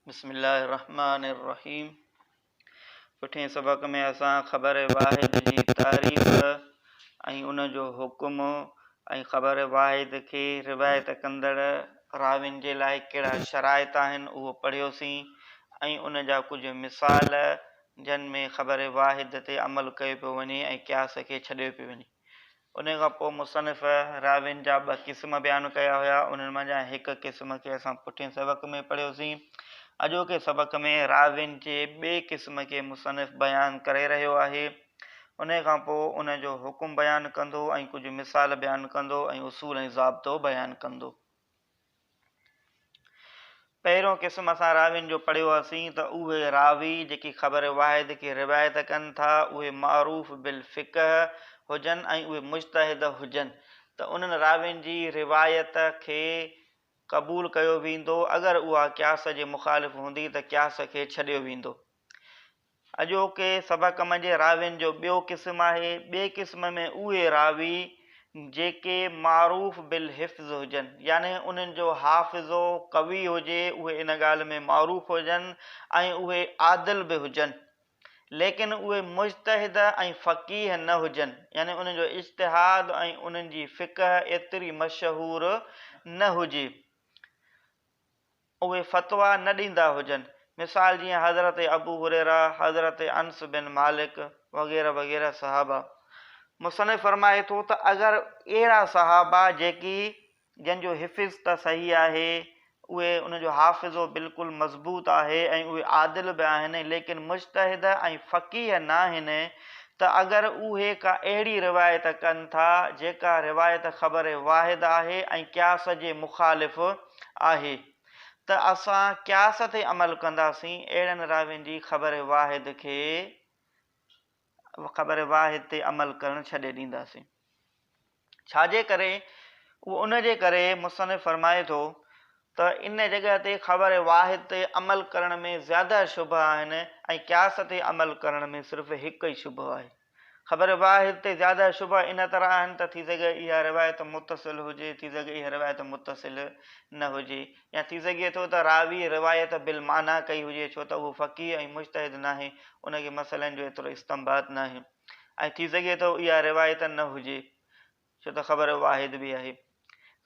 بسم الله الرحمٰن الرحيم پٺين سبق ۾ اسان خبر واحد جي تعريف ۽ ان جو حڪم ۽ خبر واحد کي روايت ڪندڙ راوين جي لاء ڪهڙا شرائط آهن اهو پڙهيوسين ۽ ان جا ڪجهه مثال جن ۾ خبر واحد تي عمل ڪيو پيو وڃي ۽ قياس کي ڇڏيو پيو وڃي انهيء کان پوء مصنف راوين جا ٻه قسم بيان ڪيا هيا، انهن منجهان هڪ قسم کي اسان پٺئين سبق ۾ پڙهيوسين. اڄوڪي سبق ۾ راوين جي ٻئي قسم کي مصنف بيان ڪري رهيو آهي. انهيء کان پوء ان جو حڪم بيان ڪندو ۽ ڪجهه مثال بيان ڪندو ۽ اصول ۽ ضابطو بيان ڪندو. پهريون قسم اسان راوين جو پڙهيو هئاسين ته اهي راوي جيڪي خبر واحد کي روايت ڪن ٿا اهي معروف بالفقه هجن ۽ اهي مجتهد هجن ته انهن راوين جي روايت کي قبول ڪيو ويندو اگر اها قياس جي مخالف هوندي ته قياس کي ڇڏيو ويندو اڄوڪي سڀ ڪم جي راوين جو ٻيو قسم آهي، ٻئي قسم ۾ اهي راوي جيڪي معروف بالحفظ هجن، يعني انهن جو حافظو قوي هجي، اهي ان ڳالهه ۾ معروف هجن ۽ اهي عادل به هجن، ليڪن اهي مجتهد ۽ فقيه نه هجن، يعني انهن جو اجتهاد ۽ انهن جي فقه ايتري مشهور نه هجي. اهي فتويٰ نه ڏيندا هجن. مثال جيئن حضرت ابو هريره، حضرت انس بن مالڪ وغيره وغيره صحابه. مصنف فرمائي ٿو ته اگر اهڙا صحابه جيڪي جن جو حفظ ته صحيح آهي اهي ان جو حافظو بلڪل مضبوط آهي ۽ اهي عادل به آهن ليڪن مجتهد ۽ فقيه ناهن ته اگر اهي ڪا اهڙي روايت ڪن ٿا جيڪا روايت خبر واحد آهي ۽ قياس جي مخالف آهي ته اسان قياس تي عمل ڪنداسين اهڙن راوين جي خبر واحد کي خبر واحد تي عمل ڪرڻ ڇڏي ڏينداسين ڇاجي ڪري اهو ان جي ڪري مصنف فرمائي ٿو ته ان جڳهه تي خبر واحد تي عمل ڪرڻ ۾ زياده شبه آهن ۽ قياس تي عمل ڪرڻ ۾ صرف هڪ ئي شبه آهي خبر باه هتي زياده شبها ان طرح آهن ته ٿي سگهي اها روايت متصل هجي ٿي سگهي اها روايت متصل نه هجي يا ٿي سگهي ٿو ته راوي روايت بالمعنيٰ ڪئي هجي ڇو ته اهو فقيه ۽ مجتهد ناهي ان کي مسئلن جو ايترو استنباط ناهي ۽ ٿي سگهي ٿو اها روايت نه هجي ڇو ته خبر واحد به آهي.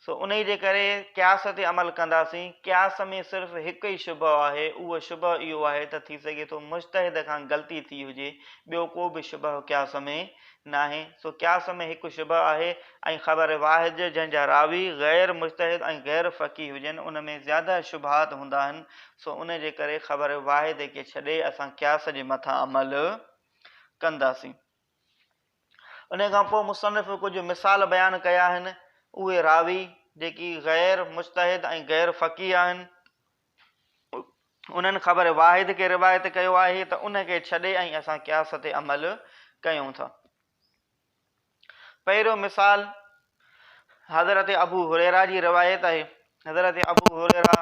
سو انهي جي ڪري قياس تي عمل ڪنداسين. قياس ۾ صرف هڪ ئي شبهه آهي، اهو شبهه اهو آهي ته ٿي سگهي ٿو مجتهد کان غلطي ٿي هجي، ٻيو ڪو به شبهه قياس ۾ ناهي. سو قياس ۾ هڪ شبهه آهي ۽ خبر واحد جنهن جا راوي غير مجتهد ۽ غير فقيه هجن ان ۾ زياده شبهات هوندا آهن، سو انهي جي ڪري خبر واحد کي ڇڏي اسان قياس جي مٿان عمل ڪنداسين. انهيء کان پوء مصنف ڪجهه مثال بيان ڪيا آهن، اهي راوي، جيڪي غير مجتهد ۽ غير فقيه آهن، انهن خبر واحد کي روايت ڪيو آهي ته ان کي ڇڏي ۽ اسان قياس تي عمل ڪيون ٿا. پهريون مثال حضرت ابو هريره جي روايت آهي، حضرت ابو هريره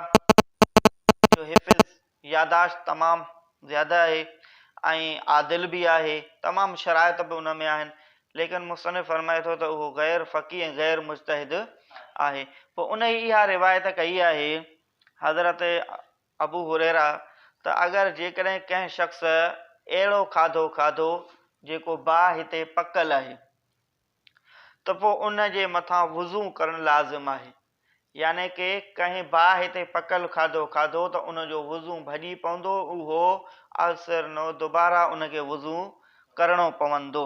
جو حفظ ياداشت تمام زياده آهي ۽ عادل به آهي، تمام شرائط به ان ۾ آهن، ليڪن مصنف فرمائي ٿو ته اهو غير فقيه ۽ غير مجتهد آهي. پوء انهي اها روايت ڪئي آهي حضرت ابو هريره ته اگر جيڪڏهن ڪنهن شخص اهڙو کاڌو کاڌو جيڪو باهه تي پڪل آهي. ته پوء ان جي مٿان وضو ڪرڻ لازم آهي، يعني ڪي ڪنهن باهه تي پڪل کاڌو کاڌو ته ان جو وضو ڀڄي پوندو اهو اثرنو دوباره ان کي وضو ڪرڻو پوندو.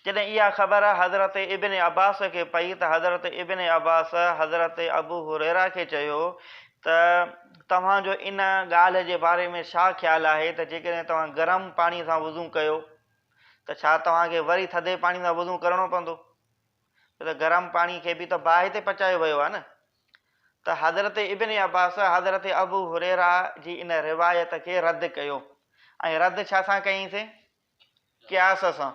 جڏهن اها خبر حضرت ابن عباس کي پئي ته حضرت ابن عباس حضرت ابو هريره کي چيو ته توهان جو ان ڳالهه جي باري ۾ ڇا خيال آهي ته جيڪڏهن توهان گرم پاڻي سان وضو ڪيو ته ڇا توهان کي وري ٿڌي پاڻي سان وضو ڪرڻو پوندو؟ ڇو ته گرم پاڻي کي به ته باهه تي پچايو ويو آهي نه؟ ته حضرت ابن عباس حضرت ابو هريره جي ان روايت کي رد ڪيو ۽ رد ڇا سان ڪيائينسين؟ قياس سان.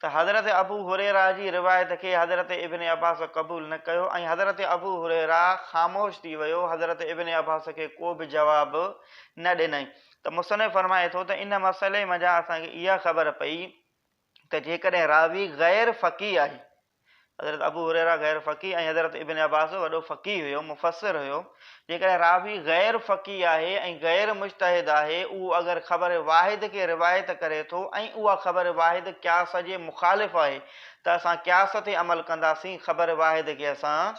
ته حضرت ابو هريره جي روايت کي حضرت ابن عباس قبول نه ڪيو ۽ حضرت ابو هريره خاموش ٿي ويو حضرت ابن عباس کي ڪو به جواب نه ڏنائين ته مصنف فرمائي ٿو ته ان مسئلي منجهان اسان کي اها خبر پئي ته جيڪڏهن راوي غير فقيه آهي حضرت ابو هريره غير فقيه ۽ حضرت ابن عباس وڏو فقيه هيو، مفسر هيو، جيڪڏهن راوي غير فقيه آهي ۽ غير مجتهد آهي، اهو اگر خبر واحد کي روايت ڪري ٿو ۽ اها خبر واحد قياس جي مخالف آهي ته اسان قياس تي عمل ڪنداسين، خبر واحد کي اسان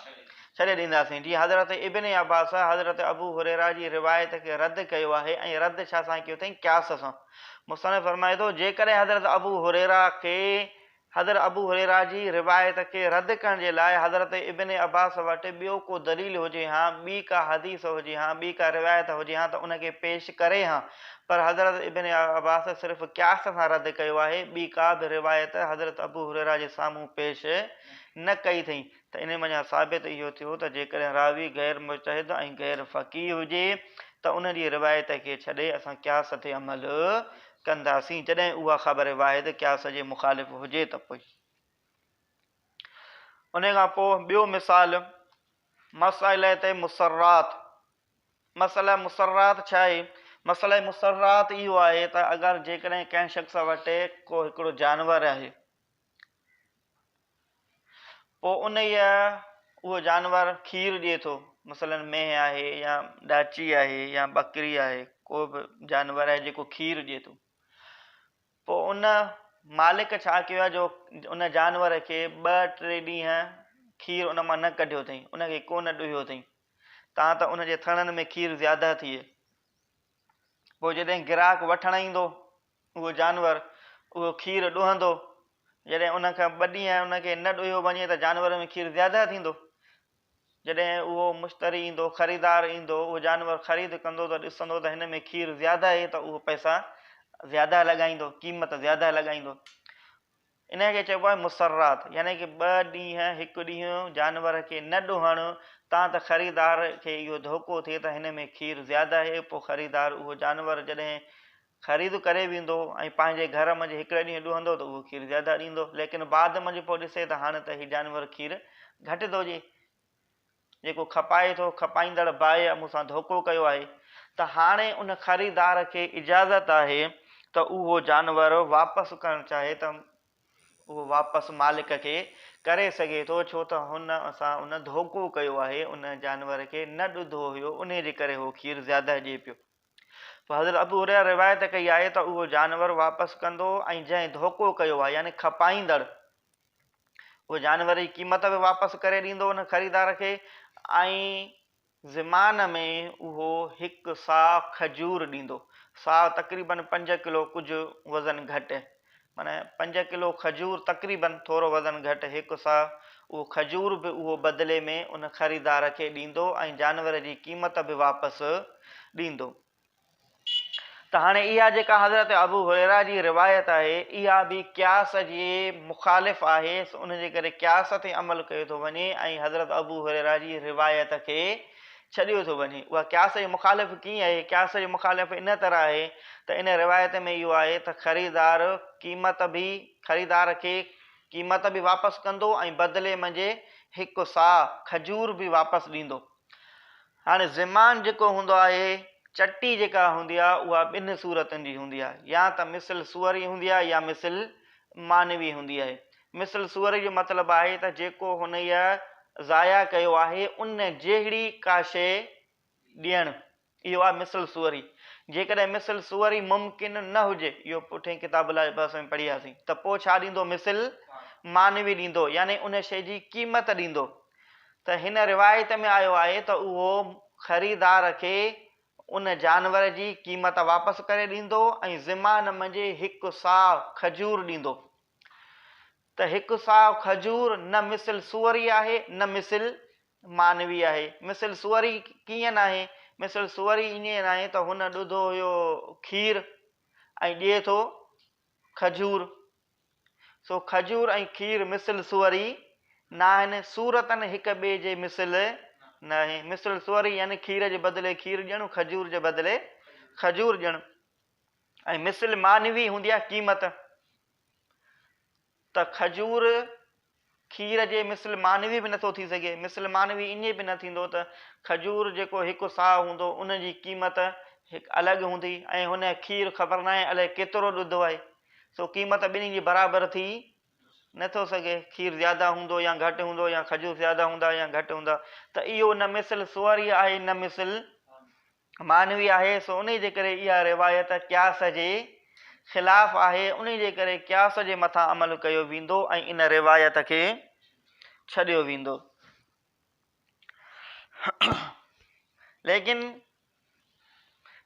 ڇڏي ڏينداسين، جيئن حضرت ابن عباس حضرت ابو هريره جي روايت کي رد ڪيو آهي ۽ رد ڇا سان ڪيو اٿئين قياس سان، مصنف فرمائي ٿو، جيڪڏهن حضرت ابو هريره کي حضرت ابو هريره جي روايت کي رد ڪرڻ جي لاء حضرت ابن عباس وٽ ٻيو ڪو دليل هجي ها، ٻي ڪا حديث هجي ها، ٻي ڪا روايت هجي ها ته ان کي پيش ڪري ها، پر حضرت ابن عباس صرف قياس سان رد ڪيو آهي، ٻي ڪا به روايت حضرت ابو هريره جي سامهون پيش نه ڪئي اٿئين. ته انهيء منجهان ثابت اهو ٿيو ته جيڪڏهن راوي غير مجتهد ۽ غير فقيه هجي ته ان جي روايت کي ڇڏي اسان قياس تي عمل ڪنداسين جڏهن اها خبر واحد قياس جي مخالف هجي ته پوء انهيء کان پوء ٻيو مثال مسئلة مسرات مسئلة مسرات ڇا آهي؟ مسئلة مسرات اهو آهي ته اگر جيڪڏهن ڪنهن شخص وٽ ڪو هڪڙو جانور آهي پوء انهيء اهو جانور کير ڏئي ٿو، مثلاً مينهن آهي يا ڏاچي آهي يا ٻڪري آهي، ڪو به جانور آهي جيڪو کير ڏئي ٿو. پوء ان مالڪ ڇا ڪيو آهي جو ان جانور کي ٻه ٽي ڏينهن کير ان مان نه ڪڍيو اٿئي، ان کي ڪو نه ڏوهيو اٿئي، تان ته ان جي ٿڻن ۾ کير زياده ٿئي. پوء جڏهن گراهڪ وٺڻ ايندو اهو جانور اهو کير ڏوهندو، جڏهن ان کان ٻه ڏينهن ان کي نه ڏوهيو وڃي ته جانور ۾ کير زياده ٿيندو. جڏهن اهو مشتري ايندو، خريدار ايندو، اهو جانور خريد ڪندو ته ڏسندو ته هن ۾ کير زياده اهي ته اهو پئسا زياده لڳائيندو، قيمت زياده لڳائيندو. انهيء کي چئبو آهي مسرات يعني ڪه ٻه ڏينهن هڪ ڏينهن جانور کي نه ڏوهڻ تان ته خريدار کي اهو ڌوڪو ٿئي ته هن ۾ کير زياده اهي پو خريدار اهو جانور جڏهن خريد ڪري ويندو ۽ پنهنجي گهر منجهه هڪڙي ڏينهن ڏوهندو ته اهو کير زياده ڏيندو ليڪن بعد منجهه پو ڏسي ته هاڻ ته هي جانور کير گهٽ ٿو ڏي جيڪو کپائي ٿو، کپائيندڙ بائيء مون سان ڌوڪو ڪيو آهي ته هاڻي ان خريدار کي اجازت آهي ته اهو جانور واپس ڪرڻ چاهي ته اهو واپس مالڪ کي ڪري سگهي ٿو ڇو ته هن سان ان ڌوڪو ڪيو آهي، ان جانور کي نه ڏڌو هيو انهي جي ڪري هو کير زياده ڏئي پيو. پوء حضرت ابو هريره روايت ڪئي آهي ته اهو جانور واپس ڪندو ۽ جنهن ڌوڪو ڪيو آهي يعني کپائيندڙ اهو جانور جي قيمت به واپس ڪري ڏيندو ان خريدار کي ۽ زمان ۾ اهو هڪ ساء کجور ڏيندو ساء تقريبا پنج ڪلو ڪجهه وزن گهٽ معنيٰ پنج ڪلو کجور تقريبا ٿورو وزن گهٽ هڪ ساء اهو کجور به اهو بدلي ۾ ان خريدار کي ڏيندو ۽ جانور جي قيمت به واپس ڏيندو. ته هاڻي اها جيڪا حضرت ابو هريره جي روايت آهي اها به قياس جي مخالف آهي سو ان جي ڪري قياس تي عمل ڪيو ٿو وڃي ۽ حضرت ابو هريره جي روايت کي ڇڏيو ٿو وڃي اها قياس جي مخالف ڪيئن آهي قياس جي مخالف ان طرح آهي ته ان روايت ۾ اهو آهي ته خريدار قيمت به خريدار کي قيمت به واپس ڪندو ۽ بدلي منجهه هڪ ساهه کجور به واپس ڏيندو هاڻي زمان جيڪو هوندو آهي، چٽي جيڪا هوندي آ، اها ٻنهن صورتن جي هوندي آ، يا ته مثل صور ئي هوندي آ يا مثل معنوي هوندي آهي. مثل صور جو مطلب آهي ته جيڪو هنئي ضايع ڪيو آهي، ان جهڙي ڪا شيء ڏيڻ، اهو آ مثل صور ئي. جيڪڏهن مثل صور ئي ممڪن نه هجي، اهو پٺئين ڪتاب الباس ۾ پڙهياسين، ته پوء ڇا ڏيندو مثل معنوي ڏيندو، يعني ان شيء جي قيمت ڏيندو. ته هن روايت ۾ آيو آهي ته اهو خريدار کي ان جانور جي قيمت واپس ڪري ڏيندو ۽ زمان منجهي هڪ صاع کجور ڏيندو ته هڪ صاع کجور نه مثل سوري آهي نه مثل مانوي آهي مثل سوري ڪيئن ناهي مثل سوري ايئن ناهي ته هن ڏڌو هيو کير ۽ ڏئي ٿو کجور. سو کجور ۽ کير مثل سوري ناهن، صورتن هڪ ٻئي جي مثل ناهن. مثل سوري يعني کير جي بدلي کير ڏيڻ، کجور جي بدلي کجور ڏيڻ. ۽ مثل معنوي هوندي آهي قيمت، ته کجور کير جي مثل مانوي به نٿو ٿي سگهي. مثل مانوي ائين به نه ٿيندو ته کجور جيڪو هڪ ساء هوندو ان جي قيمت هڪ الڳ هوندي ۽ هن کير خبر ناهي الائي ڪيترو ڏڌو آهي سو قيمت ٻنهي جي برابر ٿي نٿو سگهي کير زياده هوندو يا گهٽ هوندو يا کجور زياده هوندا يا گهٽ هوندا ته اهو نه مثل سواريء آهي نه مثل معنوي آهي، سو انهيء جي ڪري اها روايت قياس جي خلاف آهي، انهيء جي ڪري قياس جي مٿان عمل ڪيو ويندو ۽ ان روايت کي ڇڏيو ويندو. ليڪن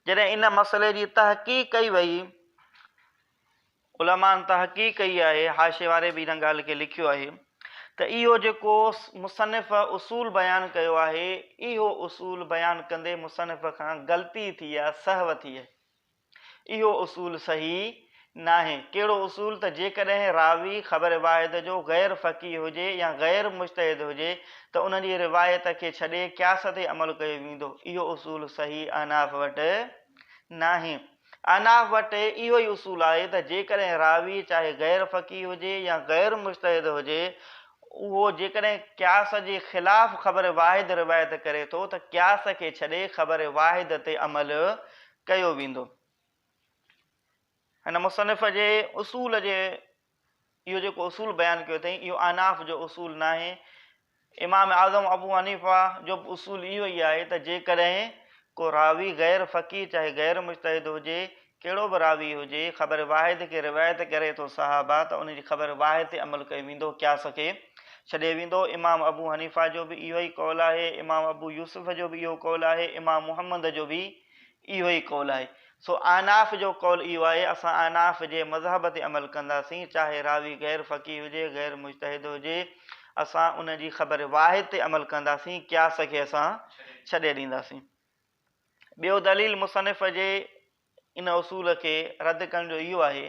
جڏهن ان مسئلي جي تحقيق ڪئي وئي علمائن تحقيق ڪئي آهي، حاشيي واري به ان ڳالهه کي لکيو آهي ته اهو جيڪو مصنف اصول بيان ڪيو آهي، اهو اصول بيان ڪندي مصنف کان غلطي ٿي يا سهو ٿي آهي. اهو اصول صحيح ناهي. ڪهڙو اصول ته جيڪڏهن راوي خبر واحد جو غير فقيه هجي يا غير مجتهد هجي ته ان جي روايت کي ڇڏي قياس تي عمل ڪيو ويندو. اهو اصول صحيح احناف وٽ ناهي. احناف وٽ اهو ئي اصول آهي ته جيڪڏهن راوي چاهي غير فقيه هجي يا غير مجتهد هجي اهو جيڪڏهن قياس جي خلاف خبر واحد روايت ڪري ٿو ته قياس کي ڇڏي خبر واحد تي عمل ڪيو ويندو. هن مصنف جي اصول جي اهو جيڪو اصول بيان ڪيو اٿئي اهو احناف جو اصول ناهي، امام اعظم ابو حنيفه جو به اصول اهو ئي آهي ته جيڪڏهن ڪو راوي غير فقيه چاهي غير مجتهد هجي ڪهڙو به راوي هجي خبر واحد کي روايت ڪري ٿو صحابه ته ان جي خبر واحد تي عمل ڪيو ويندو قياس کي ڇڏي ويندو امام ابو حنيفه جو به اهو ئي قول آهي امام ابو يوسف جو به اهو قول آهي امام محمد جو به اهو ئي قول آهي. سو احناف جو قول اهو آهي، اسان احناف جي مذهب تي عمل ڪنداسين، چاهي راوي غير فقيه هجي، غير مجتهد هجي، اسان ان جي خبر واحد تي عمل ڪنداسين، قياس کي اسان ڇڏي ڏينداسين. ٻيو دليل مصنف جي ان اصول کي رد ڪرڻ جو اهو آهي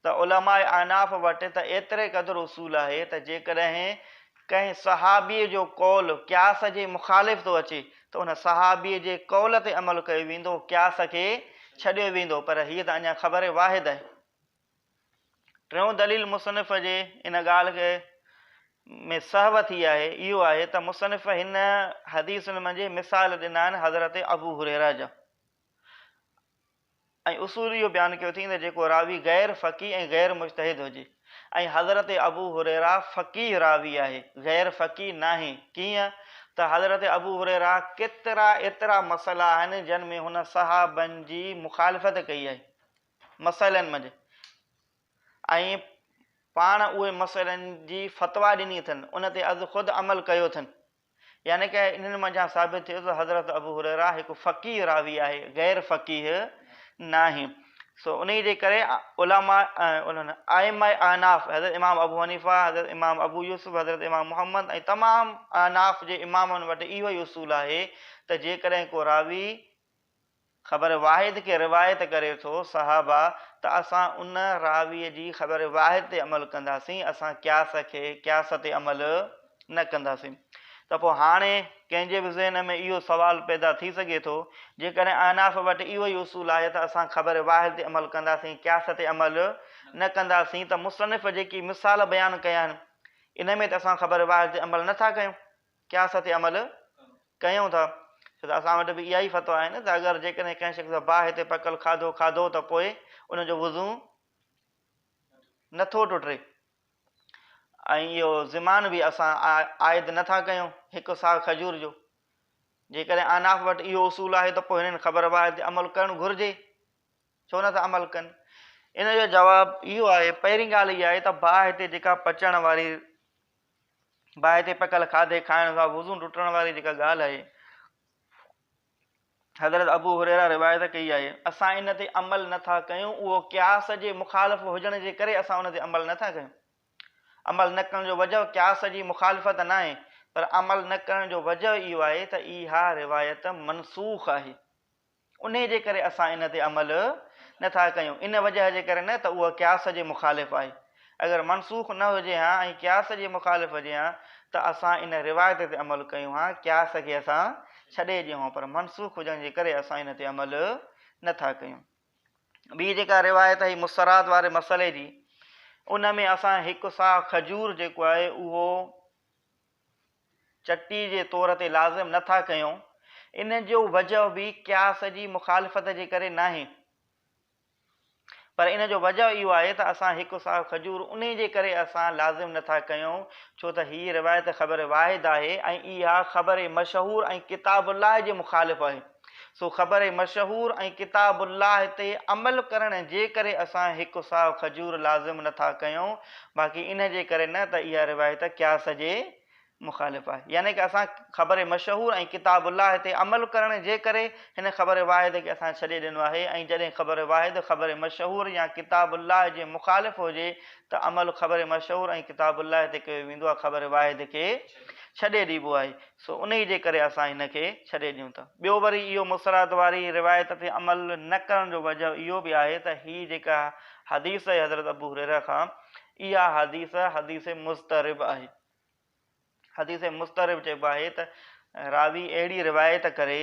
ته علماء احناف وٽ ته ايتري قدر اصول آهي ته جيڪڏهن ڪنهن صحابيء جو قول قياس جي مخالف ٿو اچي ته ان صحابيء جي قول تي عمل ڪيو ويندو، قياس کي ڇڏيو ويندو، پر هيء ته اڃا خبر واحد آهي. ٽيون دليل مصنف جي ان ڳالهه کي ۾ سهو ٿي آهي، اهو آهي ته مصنف هن حديثن منجهه مثال ڏنا آهن حضرت ابو هريره جا. ۽ اصول اهو بيان ڪيو اٿئين ته جيڪو راوي غير فقيه ۽ غير مجتهد هجي ۽ حضرت ابو هريره فقيه راوي آهي غير فقيه ناهي ڪيئن ته حضرت ابو هريره ڪيترا ايترا مسئلا آهن جن ۾ هن صحابن جي مخالفت ڪئي آهي مسئلن منجهه ۽ پاڻ اهي مسئلن جي فتويٰ ڏني اٿن ان تي از خود عمل ڪيو اٿن. يعني ڪه انهن منجهان ثابت ٿئي ٿو ته حضرت ابو هريره هڪ فقيه راوي آهي، غير فقيه ناهي. سو انهيء جي ڪري علماء ۽ ائمه احناف، حضرت امام ابو حنيفه، حضرت امام ابو يوسف، حضرت امام محمد ۽ تمام احناف جي امامن وٽ اهو ئي اصول آهي ته جيڪڏهن ڪو راوي، خبر واحد کي روايت ڪري ٿو، صحابه، ته اسان ان راويء جي خبر واحد تي عمل ڪنداسين، اسان قياس کي قياس تي عمل نه ڪنداسين. ته پوء هاڻي ڪنهن جي به ذهن ۾ اهو سوال پيدا ٿي سگهي ٿو، جيڪڏهن احناف وٽ اهو ئي اصول آهي ته اسان خبر واحد تي عمل ڪنداسين، قياس تي عمل نه ڪنداسين، ته مصنف جيڪي مثال بيان ڪيا آهن، ان ۾ ته اسان خبر واحد تي عمل نه ٿا ڪيون؟ قياس تي عمل ڪيون ٿا ڇو ته اسان وٽ به اها ئي فتويٰ آهي نه ته اگر جيڪڏهن ڪنهن شخص سان باهه تي پڪل کاڌو کاڌو ته پوء ان جو وضو نه ٿو ٽٽي ۽ اهو زمان به اسان عائد نه ٿا ڪيون هڪ ساهه کجور جو جيڪڏهن اناف وٽ اهو اصول آهي ته پوء هنن خبر باهه تي عمل ڪرڻ گهرجي ڇو نه ٿا عمل ڪن ان جو جواب اهو آهي پهرين ڳالهه اها آهي ته باهه تي جيڪا پچڻ واري باهه تي پڪل کاڌي کائڻ سان وضو ٽٽڻ واري جيڪا ڳالهه آهي، حضرت ابو هريره روايت ڪئي آهي، اسان ان تي عمل نه ٿا ڪيون، اهو قياس جي مخالف هجڻ جي ڪري اسان ان تي عمل نه ٿا ڪيون. عمل نه ڪرڻ جو وجهه قياس جي مخالفت ناهي، پر عمل نه ڪرڻ جو وجهه اهو آهي ته اها روايت منسوخ آهي. انهيء جي ڪري اسان ان تي عمل نه ٿا ڪيون، ان وجهه جي ڪري نه ته اهو قياس جي مخالف آهي. اگر منسوخ نه هجي ها ۽ قياس جي مخالف هجي ها ته اسان ان روايت تي عمل ڪيون ها، قياس کي اسان ڇڏي ڏيون ها، پر منسوخ هجڻ جي ڪري اسان ان تي عمل نه ٿا ڪيون. ٻي جيڪا روايت آهي مسترات واري مسئلي جي، ان ۾ اسان هڪ ساهه کجور جيڪو آهي اهو. چٽي جي طور تي لازم نه ٿا ڪيون، ان جو وجه به قياس جي مخالفت جي ڪري ناهي، پر ان جو وجه اهو آهي ته اسان هڪ ساهه کجور انهي جي ڪري اسان لازم نه ٿا ڪيون، ڇو ته هيء روايت خبر واحد آهي ۽ اها خبر مشهور ۽ ڪتاب الله جي مخالف آهي. سو خبر مشهور ۽ ڪتاب الله تي عمل ڪرڻ جي ڪري اسان هڪ ساء کجور لازم نه ٿا ڪيون باقي ان جي ڪري نه ته اها روايت قياس جي مخالف آهي يعني ڪه اسان خبر مشهور ۽ ڪتاب الله تي عمل ڪرڻ جي ڪري هن خبر واحد کي اسان ڇڏي ڏنو آهي ۽ جڏهن خبر واحد خبر مشهور يا ڪتاب الله جي مخالف هجي ته عمل خبر مشهور ۽ ڪتاب الله تي ڪيو ويندو آهي خبر واحد کي ڇڏي ڏيبو آهي سو انهيء جي ڪري اسان هن کي ڇڏي ڏيون ٿا. ٻيو وري اهو مصرعت واري روايت تي عمل نه ڪرڻ جو وجهه اهو به آهي ته هيء جيڪا حديث آهي حضرت ابو هريره کان اها حديث حديث مضطرب آهي. حديث مضطرب چئبو آهي ته راوي اهڙي روايت ڪري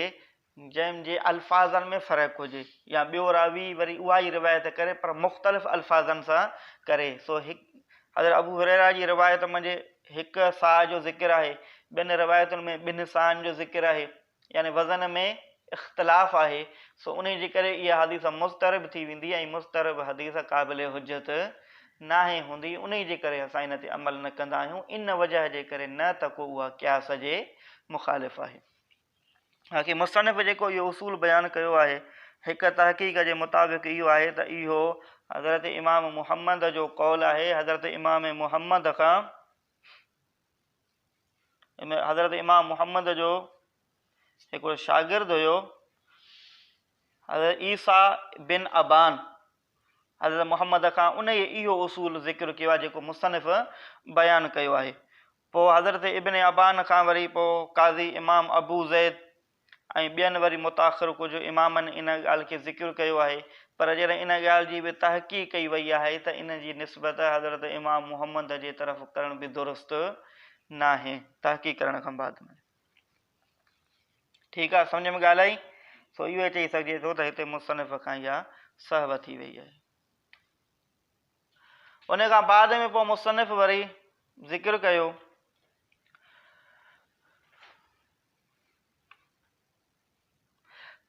جنهن جي الفاظن ۾ فرق هجي يا ٻيو راوي وري اها ئي روايت ڪري پر مختلف الفاظن سان ڪري سو هڪ حضرت ابو هريره جي روايت منجهه هڪ صاع جو ذڪر آهي ٻين روايتن ۾ ٻن صاعن جو ذڪر آهي يعني وزن ۾ اختلاف آهي سو انهي جي ڪري اها حديث مضطرب ٿي ويندي ۽ مضطرب حديث قابل حجت ناهي هوندي انهي جي ڪري اسان ان تي عمل نه ڪندا آهيون ان وجه جي ڪري نه ته ڪو اها قياس جي مخالف آهي باقي مصنف جيڪو اهو اصول بيان ڪيو آهي، هڪ تحقيق جي مطابق اهو آهي ته اهو حضرت امام محمد جو قول آهي، حضرت امام محمد کان حضرت امام محمد جو هڪڙو شاگرد هيو حضرت عيسيٰ بن ابان حضرت محمد کان انهيء اهو اصول ذڪر ڪيو آهي جيڪو مصنف بيان ڪيو آهي پوء حضرت ابن ابان کان وري پوء قاضي امام ابو زيد ۽ ٻين وري متاخر ڪجهه امامن ان ڳالهه کي ذڪر ڪيو آهي پر جڏهن ان ڳالهه جي به تحقيق ڪئي وئي آهي ته ان جي نسبت حضرت امام محمد جي طرف ڪرڻ به درست ناهي. تحقيق ڪرڻ کان بعد ۾ ٺيڪ آهي سمجهه ۾ ڳالهه آئي سو اهو چئي سگهجي ٿو ته هتي مصنف کان اها سهو ٿي وئي آهي. ان کان بعد ۾ پوء مصنف وري ذڪر ڪيو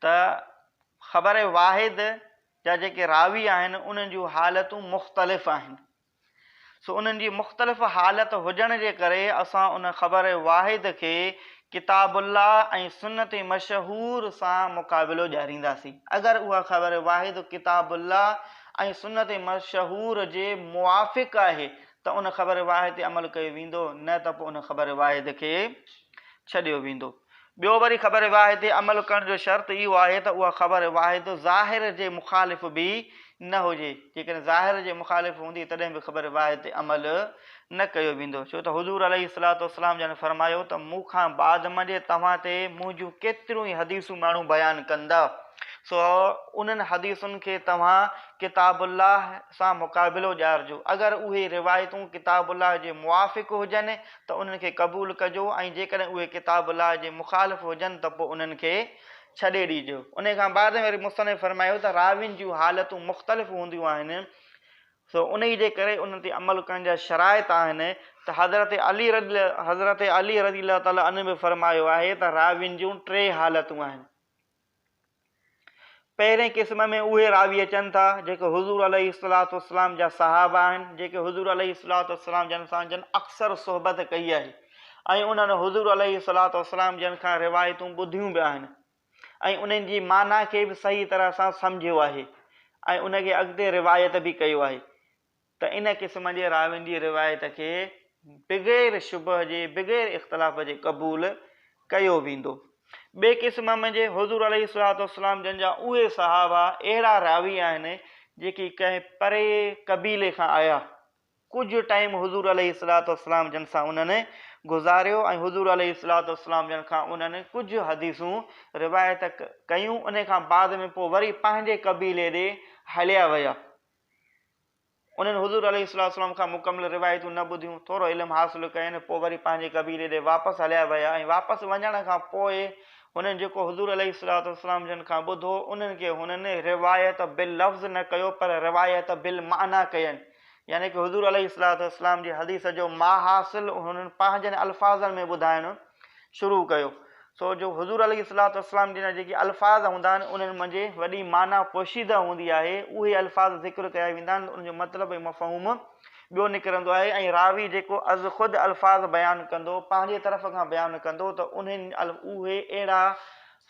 ته خبر واحد جا جيڪي راوي آهن انهن جون حالتون مختلف آهن سو انهن جي مختلف حالت هجڻ جي ڪري اسان ان خبر واحد کي ڪتاب الله ۽ سنت مشهور سان مقابلو ڏيارينداسين اگر اها خبر واحد ڪتاب الله ۽ سنت مشهور جي موافق آهي ته ان خبر واحد تي عمل ڪيو ويندو نه ته پوء ان خبر واحد کي ڇڏيو ويندو. ٻيو وري خبر واحد تي عمل ڪرڻ جو شرط اهو آهي ته اها خبر واحد ظاهر جي مخالف به نه هجي، جيڪڏهن ظاهر جي مخالف هوندي تڏهن به خبر واحد تي عمل نه ڪيو ويندو ڇو ته حضور عليه الصلوة والسلام جن فرمايو ته مون کان بعد م جي توهان تي منهنجون ڪيتريون ئي حديثون ماڻهو بيان ڪندا سو انهن حديثن کي توهان ڪتاب الله سان مقابلو ڏيارجو اگر اهي روايتون ڪتاب الله جي موافق هجن ته انهن کي قبول ڪجو ۽ جيڪڏهن اهي ڪتاب الله جي مخالف هجن ته پوء انهن کي ڇڏي ڏيجو. انهي کان بعد م وري مصنف فرمايو ته راوين جون حالتون مختلف هونديون آهن سو انهيء جي ڪري انهن تي عمل ڪرڻ جا شرائط آهن ته حضرت علي رضي حضرت علي رضي الله تعالٰي عنه به فرمايو آهي ته راوين جون ٽي حالتون آهن. پهرين قسم ۾ اهي راوي اچن ٿا، جيڪي حضور عليه الصلوة والسلام جا صحابه آهن، جيڪي حضور عليه الصلوة والسلام جن سان جن اڪثر صحبت ڪئي آهي ۽ انهن حضور عليه الصلوة والسلام جن کان روايتون ٻڌيون به آهن. ۽ انهن جي معنيٰ کي به صحيح طرح سان سمجهيو آهي ۽ ان کي اڳتي روايت به ڪيو آهي ته ان قسم جي راوين جي روايت کي بغير شبهه جي بغير اختلاف جي قبول ڪيو ويندو. ٻئي قسم م جي حضور عليه الصلوة والسلام جن جا اهي صحابه اهڙا راوي آهن جيڪي ڪنهن پري قبيلي کان آيا، ڪجهه ٽائيم حضور عليه الصلوة والسلام جن سان انهن گذاريو ۽ حضور عليه الصلوة والسلام جن کان انهن ڪجهه حديثون روايت ڪيون انهي کان بعد ۾ پوء وري پنهنجي قبيلي ڏي هليا ويا انهن حضور عليه الصلوة والسلام کان مڪمل روايتون نه ٻڌيون ٿورو علم حاصل ڪين پوء وري پنهنجي قبيلي ڏي واپس هليا ويا ۽ واپس وڃڻ کان پوء هنن جيڪو حضور عليه الصلوة والسلام جن کان ٻڌو انهن کي هنن روايت باللفظ نه ڪيو پر روايت بالمعنيٰ ڪين يعني ڪه حضور عليه الصلوة والسلام جي حديث جو ماحاصل هنن پنهنجن الفاظن ۾ ٻڌائڻ شروع ڪيو سو جو حضور عليه الصلوة والسلام جن جا جيڪي الفاظ هوندا آهن انهن منجهه وڏي معنيٰ پوشيده هوندي آهي اهي الفاظ ذڪر ڪيا ويندا آهن ان جو مطلب ۽ مفهوم ٻيو نڪرندو آهي ۽ راوي جيڪو از خود الفاظ بيان ڪندو پنهنجي طرف کان بيان ڪندو ته انهن اهي اهڙا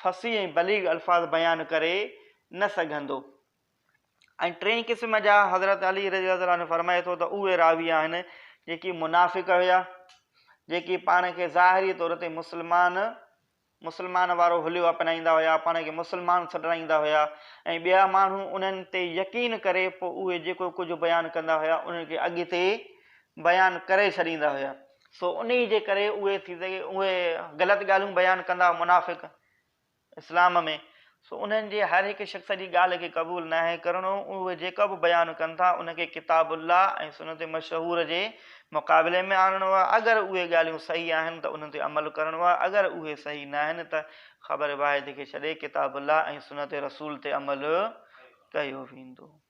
فصيح ۽ بليغ الفاظ بيان ڪري نه سگهندو. ۽ ٽئين قسم جا حضرت علي رضي الله تعالٰي عنه فرمائي ٿو ته اهي راوي آهن جيڪي منافق هيا جيڪي پاڻ کي ظاهري طور تي مسلمان مسلمان وارو حليو اپنائيندا هيا پاڻ کي مسلمان سڏرائيندا هيا ۽ ٻيا ماڻهو انهن تي يقين ڪري پوء اهي جيڪو ڪجهه بيان ڪندا هيا انهن کي اڳتي بيان ڪري ڇڏيندا هيا سو انهي جي ڪري اهي ٿي سگهي اهي غلط ڳالهيون بيان ڪندا منافق اسلام ۾، سو انهن جي هر هڪ شخص جي ڳالهه کي قبول ناهي ڪرڻو، اهي جيڪا به بيان ڪن ٿا، ان کي ڪتاب الله ۽ سنت مشهوره جي مقابلي ۾ آڻڻو آهي، اگر اهي ڳالهيون صحيح آهن ته انهن تي عمل ڪرڻو آهي، اگر اهي صحيح ناهن ته خبر واحد کي ڇڏي ڪتاب الله ۽ سنت رسول تي عمل ڪيو ويندو.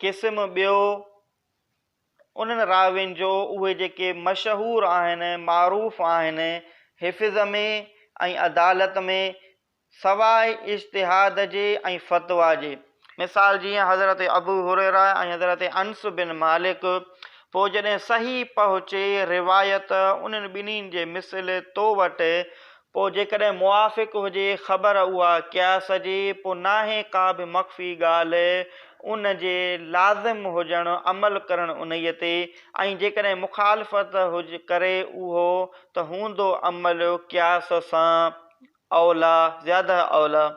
قسم ٻيو، انهن راوين جو اهي جيڪي مشهور آهن، معروف آهن، حفظ ۾ ۽ عدالت ۾ سواء اجتهاد جي ۽ فتويٰ جي. مثال جيئن حضرت ابو هريره ۽ حضرت انس بن مالڪ، پوء جڏهن صحيح پهچي روايت انهن ٻنهي جي مثل تو وٽ پوء جيڪڏهن موافق هجي خبر اها قياس جي، پوء ناهي ڪا به مخفي ڳالهه ان جي لازم هجڻ عمل ڪرڻ انهيء تي، ۽ جيڪڏهن مخالفت ڪري اهو ته هوندو عمل قياس سان اوليٰ، زياده اوليٰ.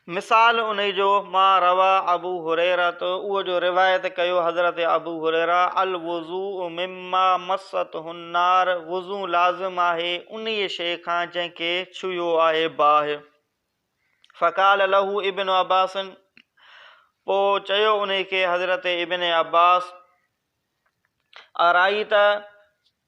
مثال انهي جو، ما روى ابو هريرة، اهو جو روايت ڪيو حضرت ابو هريره، الوضوء مما مسته النار، وضو لازم آهي انهي شيء کان جنهن کي ڇهيو آهي باهه. فقال له ابن عباس، پوء چيو انهي کي حضرت ابن عباس، ارائيت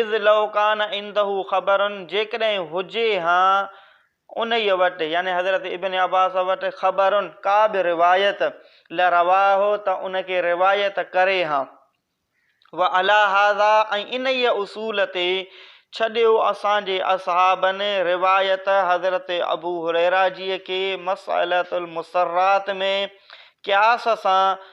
اذ لو ڪان عنده خبر جيڪڏهن هجي ها انهيء وٽ، يعني حضرت ابن عباس وٽ، خبر ڪا به روايت، لرواه ته ان کي روايت ڪري ها. وعليٰ هذا ۽ انهيء اصول تي ڇڏيو اسان جي اصحابن روايت حضرت ابو هريره جيء کي مسئلة المسرات ۾ قياس سان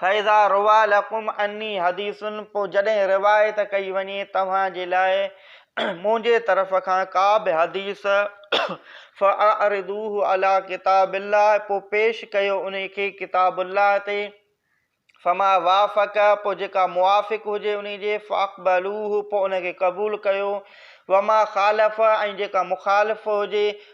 فاذا رويٰ لکم عني حديث پوء جڏهن روايت ڪئي وڃي توهان جي لاء منهنجي طرف کان ڪا به حديث فاعرضوه علي ڪتاب الله پوء پيش ڪيو ان کي ڪتاب الله تي فما وافق پوء جيڪا موافق هجي ان جي فاقبلوه پوء ان کي قبول ڪيو وما خالف ۽ جيڪا مخالف هجي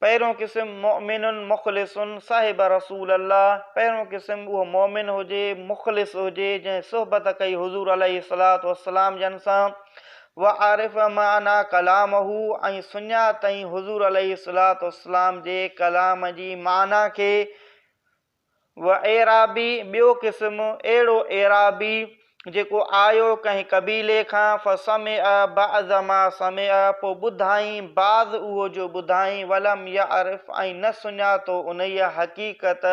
پهريون قسم مؤمن مخلص صاحب رسول الله، پهريون قسم اهو مؤمن هجي، مخلص هجي، جنهن صحبت ڪئي حضور عليه الصلوة والسلام جن سان، وعرف معنٰي ڪلامه ۽ سڃاتئين حضور عليه الصلوة والسلام جي ڪلام جي معنٰي کي، و اعرابي، ٻيو قسم، اهڙو اعرابي، جيڪو آيو ڪنهن قبيلي کان، فسمع بعض ما سمع، پوء ٻڌائين بعض اهو جو ٻڌائين، ولم يعرف، ۽ نه سڃاتو انهيء حقيقت،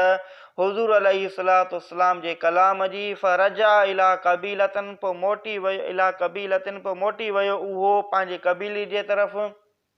حضور عليه الصلاة والسلام جي ڪلام جي، فرجع الي قبيلة، پوء موٽي ويو، الي قبيلة، پوء موٽي ويو اهو پنهنجي قبيلي جي طرف.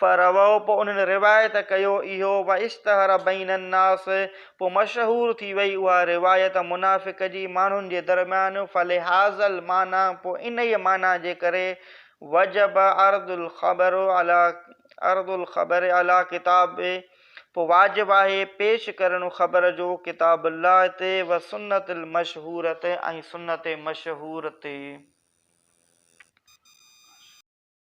فروو پوء انهن روايت ڪيو اهو واشتهر بين الناس پوء مشهور ٿي وئي اها روايت منافق جي ماڻهن جي درميان فلهذا المعنيٰ پوء انهيء معنيٰ جي ڪري وجب عرض الخبر علي عرض الخبر علي ڪتاب پوء واجب آهي پيش ڪرڻ خبر جو ڪتاب الله تي وسنت المشهورة ۽ سنت مشهور تي.